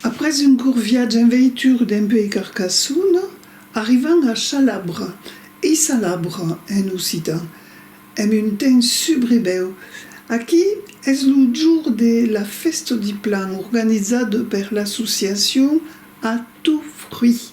Après un court viatge en veitura dempuèi Carcassonne, arribam a Chalabre, ei Salabre en occitan, en un temps subrebèu. Aquí es lo jorn de la fèsta di plan organizada per l'associacion A Tout Fruit.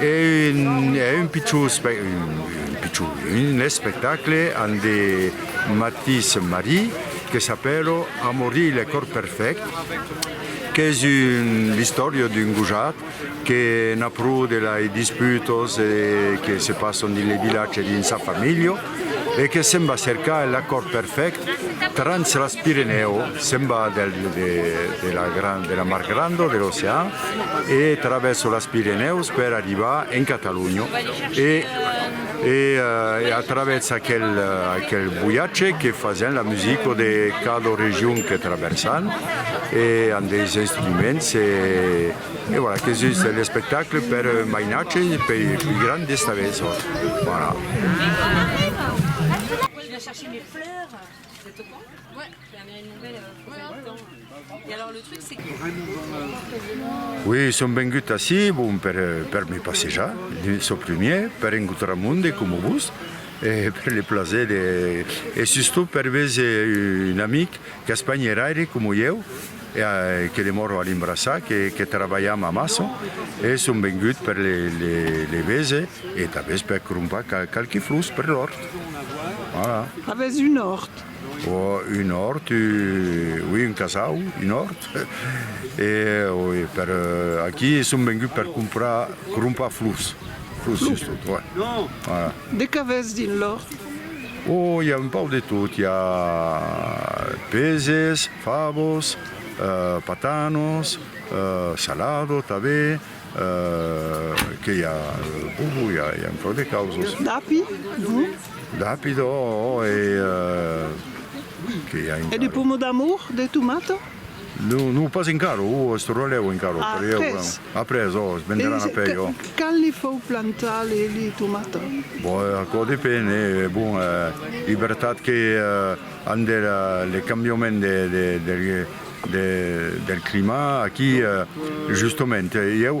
E un pichon espectacle an de Mathis Marie que s'apèla Amory le corps perfect, qu'es l'istòria d'un gojat que n'a pro de lei disputas que se passan dins le vilatge e dins sa familha. e que se'n va cercar l'acòrd perfèct trans las Pirenèu, se'n va de la Mar Granda, de l'ocean, e travèsa las Pirenèus per arribar en Catalonha. E a travèrs aquel voyatge que fasèn la musica de cada region que travèrsan e an deis instruments e. E voilà que sus l'espectacle per mainatge e pei pui grand d'esta vesa. Oui son vengut ací bon per me passejar çò primièr per encontrar monde coma vos e per le plaser de e sustot per vese un amic qu'Espanha er aire coma ieu. E que demòro a Limbraçat, que trabalham amassa, e son vengut per le vese e tanben per crompar qualque flors per l'òrt. Voilà. Avètz un òrt? Un òrt, oui, un casau, un òrt. E per aquí son vengut per crompar, crompar flors. Flors, just. Voilà. De qu'avètz dins l'òrt? Oh, i a un pauc de tot, i a peses, favos, patanos, salado tanben, que i a, bobo, i a un pauc de causos. D'api, do? D'api, do, oh, e que i a encara? E de pomo d'amour, de tomata? Non, non, pas encara, o es torrat lèu encara, o per ieu, o après, o es venderàn après, o. E quand li fau plantar li, li tomata? Bon, aquò depen, e bon, e vertat que amb de le cambiament de, de, de, de, del climat, aquí, justament, ieu.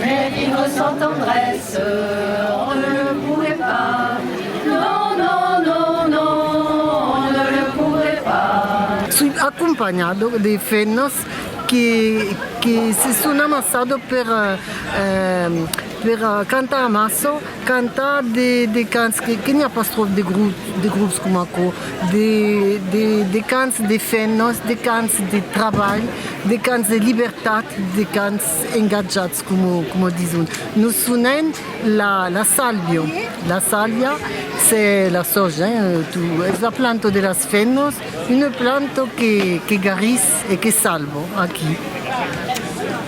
Mais qui me sent tendresse, on ne le pourrait pas, non, non, non, non, on ne le pourrait pas. Soi acompanhado de fenas que se son amassado per cantar amasso, cantar de cants que n'i a pas tròp de grops coma aquò, de cants de fenas, de cants de trabalh, de cants de libertat, de cants. engatjats coma dison nos sonen la la salvio la salvia se la soja tu es la planto de las femnos una planto que que garís e que salvo aquí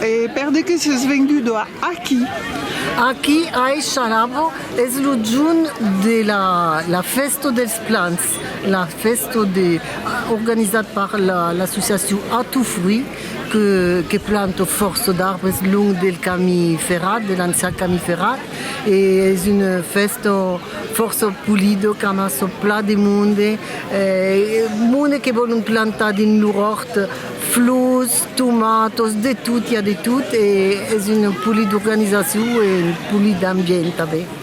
e per de que ses vengudo a aquí aquí a e chalavo es lo junt de la la festo dels plans la festo de organizat per la l'associacion a tu fruit Que planto fòrça d'arbres long del cami ferrat, de l'ancian cami ferrat, e es un fèsto fòrça polido qu'an açò plan de monde, monde que vòlon plantar dins lor òrt flors, tomatos, de tot, i a de tot, e es un polid organizacion e un polid ambient tanben.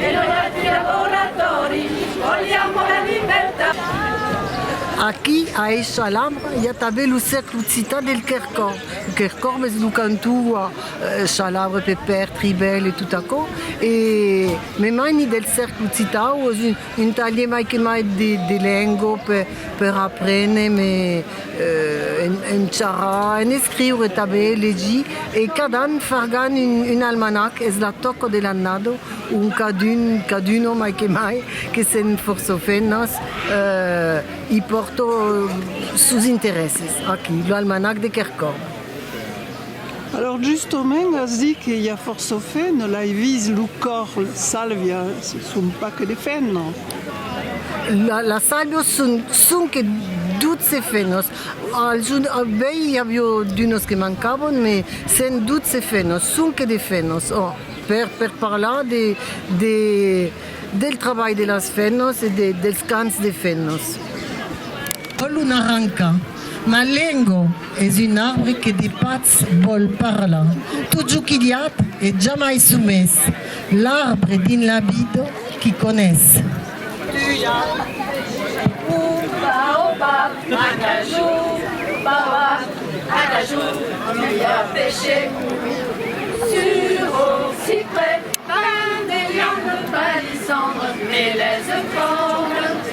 E noi altri lavoratori vogliamo la libertà. Aquí, a Eishalam, i a tanben lo cèrcle occitan del Quercorb. Lo Quercorb es lo cantó ua Chalabre, Pepèr, Tribèl e tot aquò. E me maini del cèrcle occitan o es un talhier mai que mai de lengua per aprene me. En charrar, en escriure tanben, legir e cada an fargan un almanac, es la tòca de l'annada ont cadun, caduna mai que mai, que sèn fòrça femnas, i pòrta sos interèsses aquí, lo almanac de Kercòrn. Alòrs justomènt as dit que i a fòrça fen, no l'ai vist lo còr, la sàlvia son pas que de fen, non? La sàlvia son sonque dotze fenos, als bèi i avió d'unos que mancavon me sèn dotze fenos, sonque de fenos, oh, per per parlar de de del trabalh de las fenos e de dels cants de fenos. Ò lo naranca. Ma lengo es un arbre que de patz vòl parlar, tot jo quilhat e jamai somés, l'arbre dins la vid qui conés. Ua opa a caju, baba a caju, ua peche sur o cipre, pain de viande, palissandre, melèze, corn,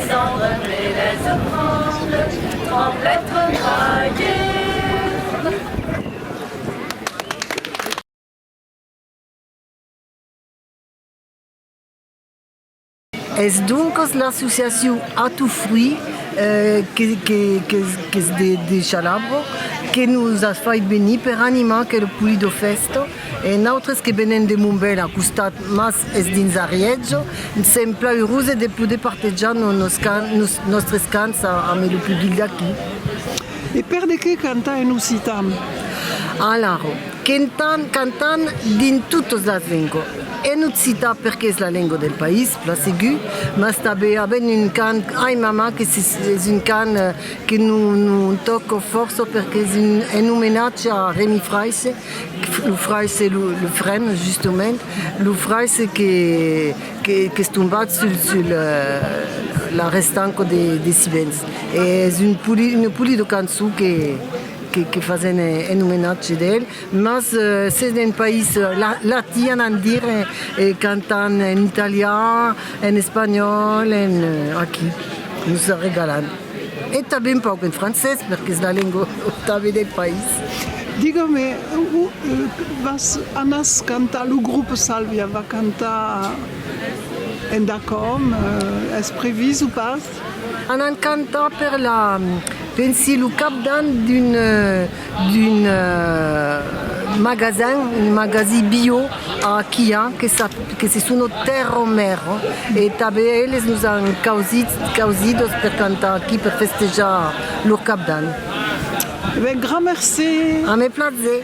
Cendre meles e tremble, tremble e tremblaieu. Es doncas l'associacion Ato Fruit qu'es de Chalabro que nos as fait venir per animar aquel Pulido Festa. E nautres que venem de Montbèl a costat mas es dins Ariètge, sèm plan eurose de poder partejar nos nos nòstres cants amb lo public d'aquí. E per de qué cantar en occitan? Alaro, quentan, cantan dins totes las lengo. En occitan perque es la lengo del país, plan segur, mas tanben avèn un cant Ai mama que se es un cant que non non tòco fòrça perque es un en omenatge a Remi Fraisse, Lo frairs se lo lo frens justement lo frairs se que que qu'es tombat sul sul la restanco de de sivens e es un poli una poli de cançon que que que fasen en omenatge d'el mas se n'en país la la tian an dire e cantan en italian en espanhòl en aquí nos regalan. E tanben un pauc en francés, perque's la lengua otave del país. Digue-me, o vas anas cantar, lo grup Salvia va cantar en Dacòm, es previst o pas? Anan cantar per la, pensi lo cap d'an d'un. d'un magasin un magasin bio a Aquià que sap que se sono Terro Merro e tanben eles nos an causit causidos per cantar aquí per festejar lo cap d'an. Grand merci. A me plaser.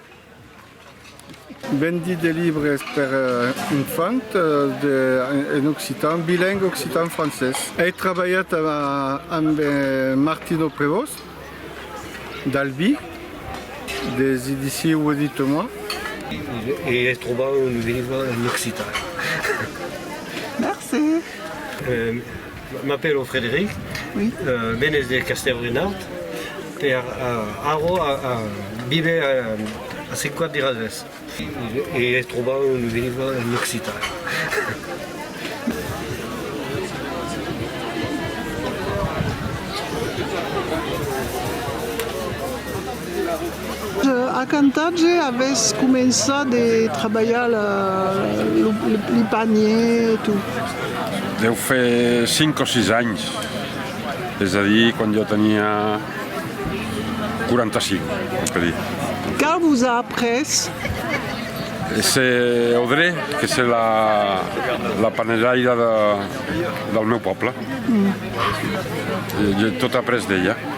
Vendi de libres per infants en occitan, bilingue occitan-francés. Ei trabalhat amb Martino Prevost, d'Albi, des Edicions Edite-moi. E es trobar un libre en occitan. Merci! M'apèlo Frederic, venes de Castèlrenaude, per arro vive a Sant Cuat de Roses. E ai trobat un libre en occitan. A cantatge avès començat de trabalhar li panier e tot. Deu fer cinc o sis anhs, es a dir quand jo tenia quaranta cinc on peut dire. Qu'a vos a après? Se Audrey que se la panelhaira del meu pòble, je tot après d'ella.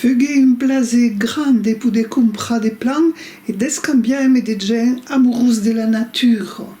Fugué un plaser grand de poder comprar de plan e d'escambiar-me de gent amorós de la natura.